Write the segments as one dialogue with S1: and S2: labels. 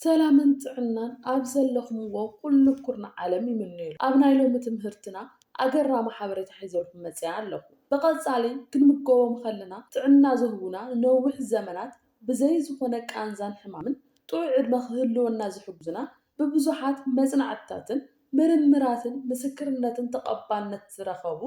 S1: ሰላምን ጥዕናን ኣብ ዘለኹምዎ ኩሉ ኩርናዕ ዓለም ይምነየልኩም። ኣብ ናይ ሎሚ ትምህርትና ኣገራሚ ሓበሬታ ሒዘልኩም መጺኣ ኣለኹ። ብቐጻሊ ክንምገቦም ከለና ጥዕና ዝህቡና ንነዊሕ ዘመናት ብዘይ ዝኾነ ቃንዛን ሕማምን ጥዑይ ዕድመ ክህልወና ዝሕግዙና ብብዙሓት መጽናዕትታትን ምርምራትን ምስክርነትን ተቐባልነት ዝረኸቡ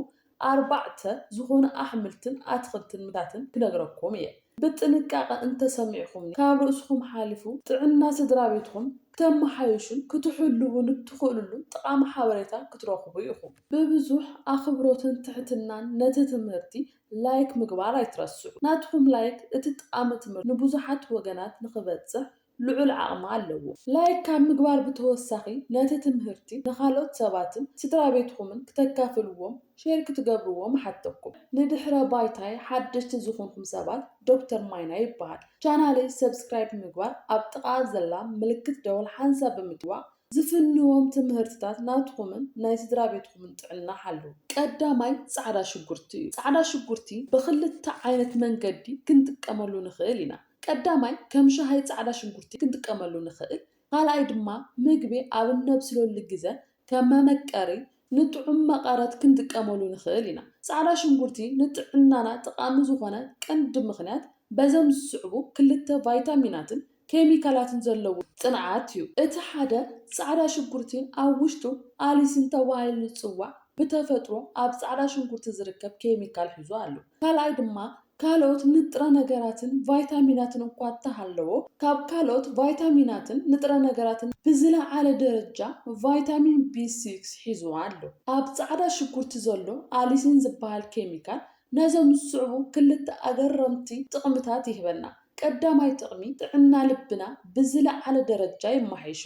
S1: ኣርባዕተ ዝኾኑ ኣሕምልትን ኣትኽልትን ምታትን ክነግረኩም እየ ብጥንቃቐ እንተሰሚዕኹምኒ ካብ ርእስኹም ሓሊፉ ጥዕና ስድራቤትኹም ክተመሓይሹን ክትሕልዉን እትኽእልሉ ጠቓሚ ሓበሬታ ክትረኽቡ ኢኹም ብብዙሕ ኣኽብሮትን ትሕትናን ነቲ ትምህርቲ ላይክ ምግባር ኣይትረስዑ ናትኹም ላይክ እቲ ጠቓሚ ትምህርቲ ንብዙሓት ወገናት ንኽበጽሕ ልዑል ዓቕሚ ኣለዎ። ላይክ ካብ ምግባር ብተወሳኺ ነቲ ትምህርቲ ንኻልኦት ሰባትን ስድራቤትኹምን ክተካፍልዎም፣ ሼር ክትገብርዎም እሓተኩም። ንድሕረ ባይታይ ሓደሽቲ ዝኹንኩም ሰባት ዶክተር ማይናይ ይበሃል። ቻናለይ ሰብስክራይብ ብምግባር ኣብ ጥቓኣ ዘላ ምልክት ደወል ሓንሳብ ብምጥዋቕ ዝፍንዎም ትምህርትታት ናትኹምን ናይ ስድራቤትኹምን ጥዕና ሓልው። ቀዳማይ ጻዕዳ ሽጉርቲ እዩ። ጻዕዳ ሽጉርቲ ብኽልተ ዓይነት መንገዲ ክንጥቀመሉ ንኽእል ኢና። ቀዳማይ ከም ሻሂ ጻዕዳ ሽጉርቲ ክንጥቀመሉ ንኽእል፣ ካልኣይ ድማ ምግቢ ኣብ እነብስለሉ ግዘ ከም መመቀሪ ንጥዑም መቐረት ክንጥቀመሉ ንኽእል ኢና። ጻዕዳ ሽጉርቲ ንጥዕናና ጠቓሚ ዝኾነ ቀንዲ ምኽንያት በዘም ዝስዕቡ ክልተ ቫይታሚናትን ኬሚካላትን ዘለዎ ጽንዓት ዩ። እቲ ሓደ ጻዕዳ ሽጉርቲ ኣብ ውሽጡ ኣሊሲን ተባሂሉ ዝጽዋዕ ብተፈጥሮ ኣብ ጻዕዳ ሽጉርቲ ዝርከብ ኬሚካል ሒዙ ኣሎ። ካልኣይ ድማ ካልኦት ንጥረ ነገራትን ቫይታሚናትን እኳ እተሃለዎ፣ ካብ ካልኦት ቫይታሚናትን ንጥረ ነገራትን ብዝለዓለ ደረጃ ቫይታሚን ቢ ሲክስ ሒዙ ኣሎ። ኣብ ጻዕዳ ሽጉርቲ ዘሎ ኣሊሲን ዝበሃል ኬሚካል ነዞም ዝስዕቡ ክልተ ኣገረምቲ ጥቕምታት ይህበና። ቀዳማይ ጥቕሚ፣ ጥዕና ልብና ብዝለዓለ ደረጃ የመሓይሾ።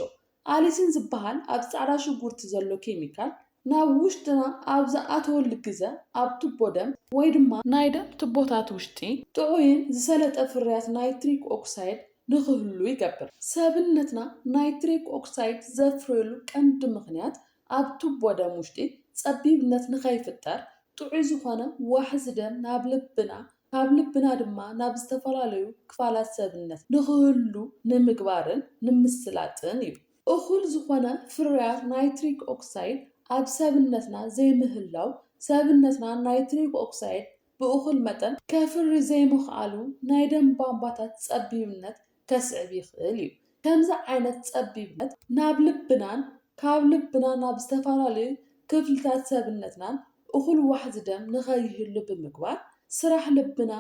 S1: ኣሊሲን ዝበሃል ኣብዚ ጻዕዳ ሽጉርቲ ዘሎ ኬሚካል ናብ ውሽጥና ኣብ ዝኣትወሉ ግዘ ኣብ ቱቦ ደም ወይ ድማ ናይ ደም ቱቦታት ውሽጢ ጥዑይን ዝሰለጠ ፍርያት ናይትሪክ ኦክሳይድ ንክህሉ ይገብር። ሰብነትና ናይትሪክ ኦክሳይድ ዘፍርየሉ ቀንዲ ምኽንያት ኣብ ቱቦ ደም ውሽጢ ጸቢብነት ንከይፍጠር ጥዑይ ዝኾነ ዋሕዚ ደም ናብ ልብና ካብ ልብና ድማ ናብ ዝተፈላለዩ ክፋላት ሰብነት ንክህሉ ንምግባርን ንምስላጥን እዩ። እኹል ዝኾነ ፍርያት ናይትሪክ ኦክሳይድ ኣብ ሰብነትና ዘይምህላው ሰብነትና ናይትሪክ ኦክሳይድ ብእኹል መጠን ከፍሪ ዘይምኽኣሉ ናይ ደም ቧንቧታት ፀቢብነት ከስዕብ ይኽእል እዩ። ከምዚ ዓይነት ጸቢብነት ናብ ልብናን ካብ ልብና ናብ ዝተፈላለዩ ክፍልታት ሰብነትናን እኹል ዋሕዚ ደም ንኸይህሉ ብምግባር ስራሕ ልብና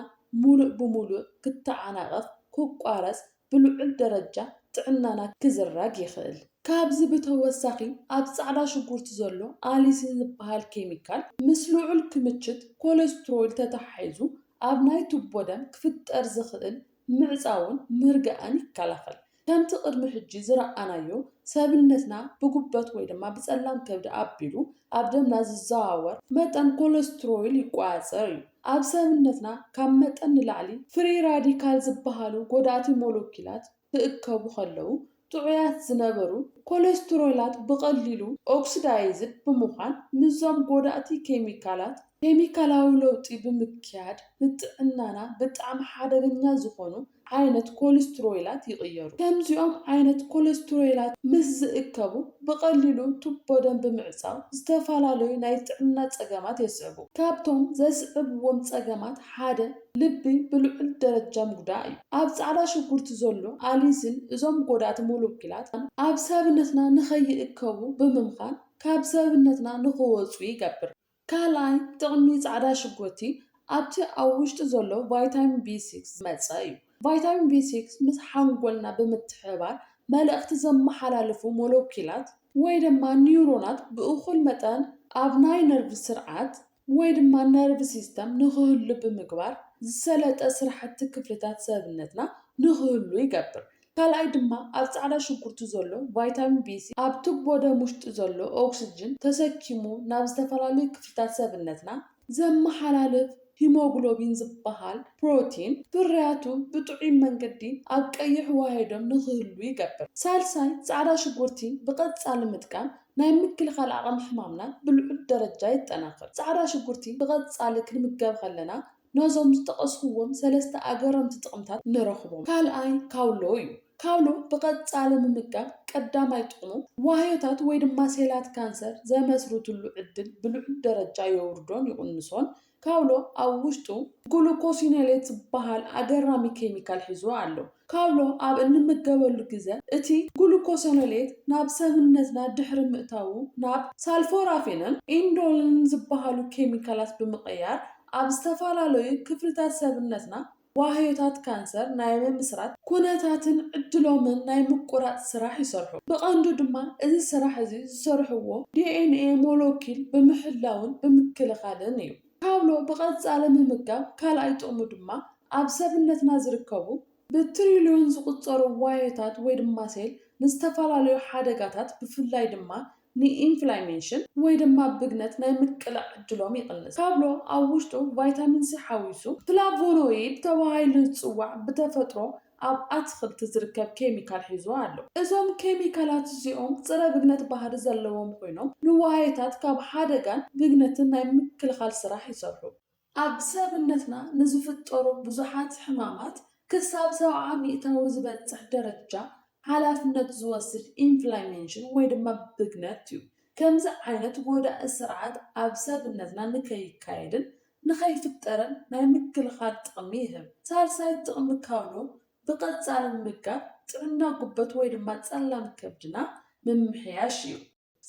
S1: ሙሉእ ብሙሉእ ክተዓናቐፍ፣ ክቋረጽ፣ ብልዑል ደረጃ ጥዕናና ክዝረግ ይኽእል። ካብዚ ብተወሳኺ ኣብ ጻዕዳ ሽጉርቲ ዘሎ ኣሊሲን ዝበሃል ኬሚካል ምስ ልዑል ክምችት ኮለስትሮይል ተተሓሒዙ ኣብ ናይ ቱቦ ደም ክፍጠር ዝኽእል ምዕጻውን ምርጋእን ይከላኸል። ከምቲ ቅድሚ ሕጂ ዝረኣናዮ ሰብነትና ብጉበት ወይ ድማ ብጸላም ከብዲ ኣቢሉ ኣብ ደምና ዝዘዋወር መጠን ኮለስትሮይል ይቆጻጸር እዩ። ኣብ ሰብነትና ካብ መጠን ንላዕሊ ፍሪ ራዲካል ዝበሃሉ ጎዳእቲ ሞለኪላት ክእከቡ ከለዉ ጥዑያት ዝነበሩ ኮለስትሮላት ብቐሊሉ ኦክስዳይዝድ ብምዃን ምስዞም ጎዳእቲ ኬሚካላት ኬሚካላዊ ለውጢ ብምክያድ ንጥዕናና ብጣዕሚ ሓደገኛ ዝኾኑ ዓይነት ኮልስትሮይላት ይቕየሩ። ከምዚኦም ዓይነት ኮለስትሮይላት ምስ ዝእከቡ ብቐሊሉ ቱቦ ደም ብምዕጻው ዝተፈላለዩ ናይ ጥዕና ጸገማት የስዕቡ። ካብቶም ዘስዕብዎም ጸገማት ሓደ፣ ልቢ ብልዑል ደረጃ ምጉዳእ እዩ። ኣብ ጻዕዳ ሽጉርቲ ዘሎ ኣሊሲን እዞም ጎዳእቲ ሞለኪላት ኣብ ሰብነትና ንኸይእከቡ ብምምኻን ካብ ሰብነትና ንኽወጹ ይገብር። ካልኣይ ጥቕሚ ጻዕዳ ሽጉርቲ ኣብቲ ኣብ ውሽጢ ዘሎ ቫይታሚን ቢ ሲክስ ዝመጸ እዩ። ቫይታሚን ቢ ሲክስ ምስ ሓንጎልና ብምትሕብባር መልእኽቲ ዘመሓላልፉ ሞለኪላት፣ ወይ ድማ ኒውሮናት ብእኹል መጠን ኣብ ናይ ነርቭ ስርዓት ወይ ድማ ነርቭ ሲስተም ንክህሉ ብምግባር ዝሰለጠ ስራሕቲ ክፍልታት ሰብነትና ንክህሉ ይገብር። ካልኣይ ድማ ኣብ ፃዕዳ ሽጉርቲ ዘሎ ቫይታሚን ቢ ስሪ ኣብ ቱቦ ደም ውሽጢ ዘሎ ኦክስጅን ተሰኪሙ ናብ ዝተፈላለዩ ክፍልታት ሰብነትና ዘመሓላልፍ ሂሞግሎቢን ዝበሃል ፕሮቲን ፍርያቱ ብጥዑይ መንገዲ ኣብ ቀይሕ ዋህዮዶም ንክህሉ ይገብር። ሳልሳይ ፃዕዳ ሽጉርቲ ብቀፃሊ ምጥቃም ናይ ምክልኻል ዓቕሚ ሕማምናን ብልዑል ደረጃ የጠናኽር። ጻዕዳ ሽጉርቲ ብቐጻሊ ክንምገብ ከለና ነዞም ዝጠቐስኩዎም ሰለስተ ኣገረምቲ ጥቕምታት ንረኽቦም። ካልኣይ ካውሎ እዩ። ካውሎ ብቐጻሊ ምምጋብ ቀዳማይ ጥቕሙ ዋህዮታት ወይ ድማ ሴላት ካንሰር ዘመስርትሉ ዕድል ብልዑል ደረጃ የውርዶን ይቕንሶን ካውሎ ኣብ ውሽጡ ግሉኮሲኖሌት ዝበሃል ኣገራሚ ኬሚካል ሒዙ ኣሎ። ካውሎ ኣብ እንምገበሉ ግዘ እቲ ግሉኮሲኖሌት ናብ ሰብነትና ድሕሪ ምእታዉ ናብ ሳልፎራፊንን ኢንዶሊንን ዝበሃሉ ኬሚካላት ብምቕያር ኣብ ዝተፈላለዩ ክፍልታት ሰብነትና ዋህዮታት ካንሰር ናይ ምምስራት ኩነታትን ዕድሎምን ናይ ምቁራጽ ስራሕ ይሰርሑ። ብቐንዱ ድማ እዚ ስራሕ እዚ ዝሰርሕዎ ዲኤንኤ ሞሎኪል ብምሕላውን ብምክልኻልን እዩ። ካብሎ ብቐጻሊ ምምጋብ ካልኣይ ጥቕሙ ድማ ኣብ ሰብነትና ዝርከቡ ብትሪልዮን ዝቑጸሩ ዋህዮታት ወይ ድማ ሴል ንዝተፈላለዩ ሓደጋታት ብፍላይ ድማ ንኢንፍላይሜንሽን ወይ ድማ ብግነት ናይ ምቅላዕ ዕድሎም ይቕንስ። ካብሎ ኣብ ውሽጡ ቫይታሚን ሲ ሓዊሱ ፍላቮኖይድ ተባሂሉ ዝጽዋዕ ብተፈጥሮ ኣብ ኣትኽልቲ ዝርከብ ኬሚካል ሒዙ ኣሎ። እዞም ኬሚካላት እዚኦም ጽረ ብግነት ባህሪ ዘለዎም ኮይኖም ንዋህዮታት ካብ ሓደጋን ብግነትን ናይ ምክልኻል ስራሕ ይሰርሑ። ኣብ ሰብነትና ንዝፍጠሩ ብዙሓት ሕማማት ክሳብ ሰብዓ ሚእታዊ ዝበጽሕ ደረጃ ሓላፍነት ዝወስድ ኢንፍላሜንሽን ወይ ድማ ብግነት እዩ። ከምዚ ዓይነት ጎዳኢ ስርዓት ኣብ ሰብነትና ንከይካየድን ንከይፍጠርን ናይ ምክልኻል ጥቕሚ ይህብ። ሳልሳይ ጥቕሚ ካውሎ ብቐጻሊ ምምጋብ ጥዕና ጉበት ወይ ድማ ጸላም ከብድና ምምሕያሽ እዩ።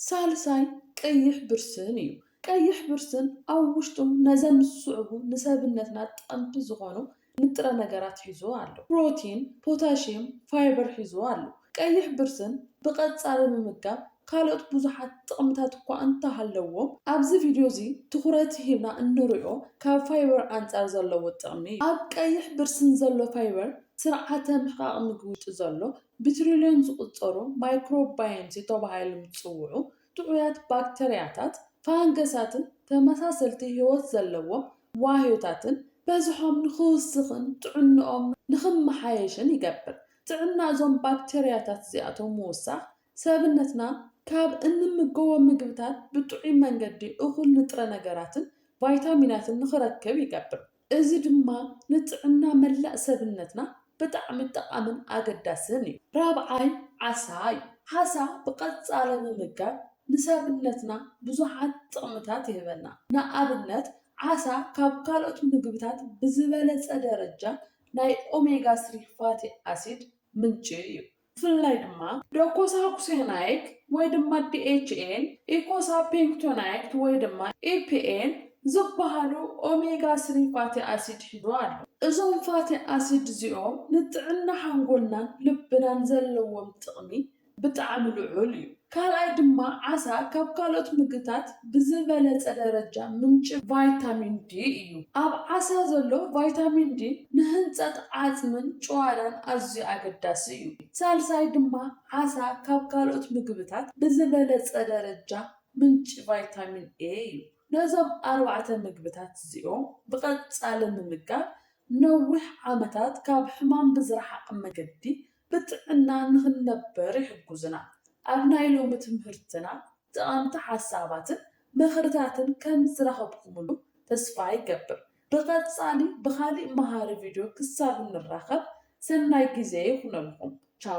S1: ሳልሳይ ቀይሕ ብርስን እዩ። ቀይሕ ብርስን ኣብ ውሽጡ ነዘም ዝስዕቡ ንሰብነትና ጠቐምቲ ዝኾኑ ንጥረ ነገራት ሒዙ ኣሎ። ፕሮቲን፣ ፖታሽየም፣ ፋይበር ሒዙ ኣሎ። ቀይሕ ብርስን ብቐጻሊ ምምጋብ ካልኦት ብዙሓት ጥቕምታት እኳ እንተሃለዎ ኣብዚ ቪድዮ እዚ ትኹረት ሂብና እንርእዮ ካብ ፋይበር ኣንጻር ዘለዎ ጥቕሚ እዩ። ኣብ ቀይሕ ብርስን ዘሎ ፋይበር ስርዓተ ምሕቓቕ ምግቢ ውሽጢ ዘሎ ብትሪልዮን ዝቑጸሩ ማይክሮባየም ተባሂሎም ዝጽውዑ ጥዑያት ባክተርያታት፣ ፋንገሳትን ተመሳሰልቲ ህይወት ዘለዎም ዋህዮታትን በዝሖም ንኽውስኽን ጥዕንኦም ንኽመሓየሽን ይገብር። ጥዕና እዞም ባክተርያታት እዚኣቶም ምውሳኽ፣ ሰብነትና ካብ እንምገቦም ምግብታት ብጥዑይ መንገዲ እኹል ንጥረ ነገራትን ቫይታሚናትን ንኽረክብ ይገብር። እዚ ድማ ንጥዕና መላእ ሰብነትና ብጣዕሚ ጠቓምን ኣገዳስን እዩ። ራብዓይ ዓሳ እዩ። ዓሳ ብቐጻሊ ምምጋብ ንሰብነትና ብዙሓት ጥቕምታት ይህበና። ንኣብነት ዓሳ ካብ ካልኦት ምግብታት ብዝበለጸ ደረጃ ናይ ኦሜጋ ስሪ ፋቲ ኣሲድ ምንጪ እዩ። ብፍላይ ድማ ዶኮሳኩሴናይክ ወይ ድማ ዲኤችኤን፣ ኢኮሳፔንክቶናይክት ወይ ድማ ኢፒኤን ዝበሃሉ ኦሜጋ ስሪ ፋቲ ኣሲድ ሒዙ ኣሎ። እዞም ፋቲ ኣሲድ እዚኦም ንጥዕና ሓንጎልናን ልብናን ዘለዎም ጥቕሚ ብጣዕሚ ልዑል እዩ። ካልኣይ ድማ ዓሳ ካብ ካልኦት ምግብታት ብዝበለፀ ደረጃ ምንጪ ቫይታሚን ዲ እዩ። ኣብ ዓሳ ዘሎ ቫይታሚን ዲ ንህንፀት ዓፅምን ጭዋዳን ኣዝዩ ኣገዳሲ እዩ። ሳልሳይ ድማ ዓሳ ካብ ካልኦት ምግብታት ብዝበለፀ ደረጃ ምንጪ ቫይታሚን ኤ እዩ። ነዞም ኣርባዕተ ምግብታት እዚኦም ብቐፃሊ ምምጋብ ነዊሕ ዓመታት ካብ ሕማም ብዝረሓቐ መገዲ ብጥዕና ንኽንነበር ይሕጉዙና። ኣብ ናይ ሎሚ ትምህርትና ጠቐምቲ ሓሳባትን ምኽርታትን ከም ዝረኸብኩምሉ ተስፋ ይገብር። ብቐጻሊ ብኻሊእ መሃሪ ቪድዮ ክሳብ ንራኸብ ሰናይ ግዜ ይኹነልኩም። ቻው!